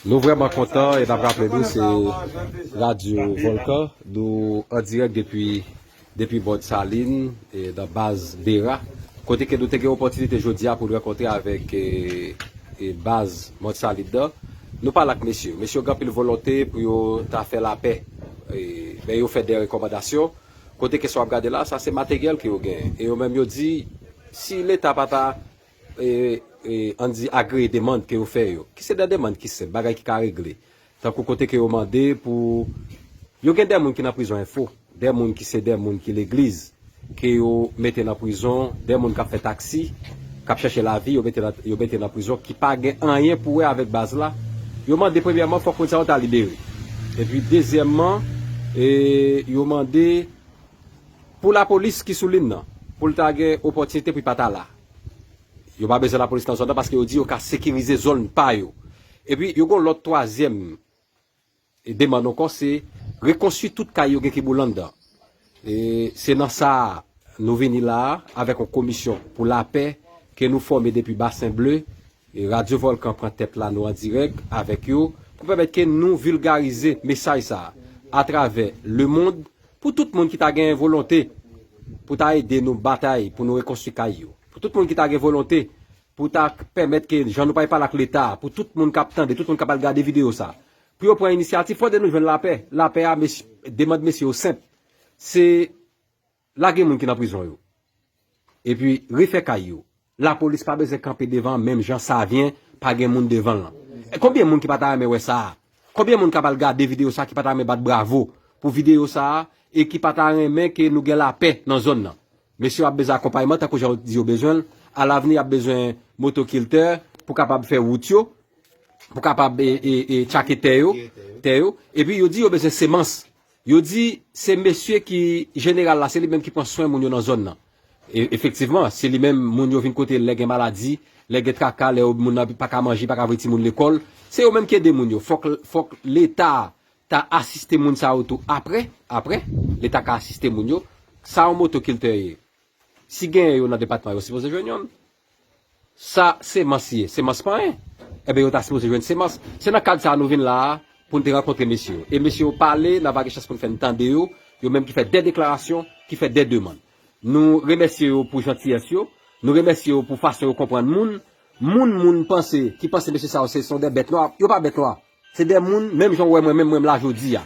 Nou vreman kontan e nap raple nou se Radio Volcan nou an direk depi Bord Salin nan baz Bera kote ke nou te gen opotinite jodi a pou nou rankontre avek baz Mont Salin nan. Nou pale ak mesye yo, mesye yo gen anpil volonte pou yo ta fè lapè men yo fè de rekomandasyon kote ke sa wap gade la sa se materyèl ke yo genyen e yo menm yo di si leta pa ta an di agreye demand ke yo fè yo, ki se de demand ki senp, bagay ki ka regle, tankou kote ke yo mande pou, yo gen de moun ki nan prizon enfo, de moun ki se de moun ki legliz, ke yo mete nan prizon, de moun kap fè taksi, kap chache lavi, yo mete, yo mete nan prizon, ki pa gen anyen pou wè avèk baz la, yo mande premyèman fòk moun sa yo ta libere, epi dezyèmman, e, yo mande, pou lapolis ki sou lin nan, pou l ta gen opòtinite pou li pa ta la. Yo pa bezwen lapolis nan zòn nan paske yo di yo ka sekirize zòn pa yo. Epi yo gen yon lòt twazyèm demann ankò se rekonstwi tout kay yo gen kiboule anndan. E se nan sa a nou vini la a avèk yon komisyon pou lapè ke nou fòme depi Basen Ble. Radyo Volkan pran tèt la nou an dirèk avèk yo pou pèmèt ke nou vilgarize mesaj sa a atravè lemond. Pou tout moun ki ta gen volonte pou ta ede nou batay pou nou rekonstwi kay yo. Pou tout moun ki ta gen volonte pou ta pèmèt ke jan nou pale pale ak leta a, pou tout moun kap tande, tout moun kap al gade video sa, pou yo pran inisyativ pou ede nou jwenn lapè. Lapè a, demand mesye yo senp, se lage moun ki nan prizon yo. Epi refè kay yo. Lapolis pa bezwen kanpe devan menm jan savien pa gen moun devanl lan konbyen moun ki pata renmen wè sa konbyen moun kap al gade video sa ki pata renmen bat bravo pou video sa e ki pata renmen ke nou gen lapè nan zòn nan mesye ap bezwen akonpayman tankou jan yo t di yo bezwenl alavni yap bezwen motokiltè pou kapab fè wout yo pou kapab e e tchake tè yo tè yo epi yo di yo bezwen semans Yo di se mesye ki jeneral la se li menm ki pran swen moun yo nan zòn nan. Efektivman, se li menm moun yo vin kote l lè gen maladi, lè gen traka, lè yo moun nan pa ka manje, pa ka voye timoun lekòl. Se yo menm ki ede moun yo. Fòk fòk leta ta asiste moun sa yo tou aprè, aprè leta ka asiste moun yo. Sa yon moto kiltè ye? Si genyen yo nan depatman yo sipoze jwenn yonn. Sa semans ye? Semans panyen? Enben yo ta sipoze jwenn semans. Se nan kad sa a nou vin la a pou n te rankontre mesye yo. E mesye yo pale, nan va gen chans pou n fè n tande yo, yo menm ki fè de deklarasyon, ki fè de demann. Nou remèsye yo pou jantiyès yo, nou remèsye yo pou fason yo konprann moun. Moun moun panse, ki panse mesye sa yo se son de bèt nwa, yo pa bèt nwa. Se de moun, menm jan ou wè mwen menm, mwen menm la jodi a.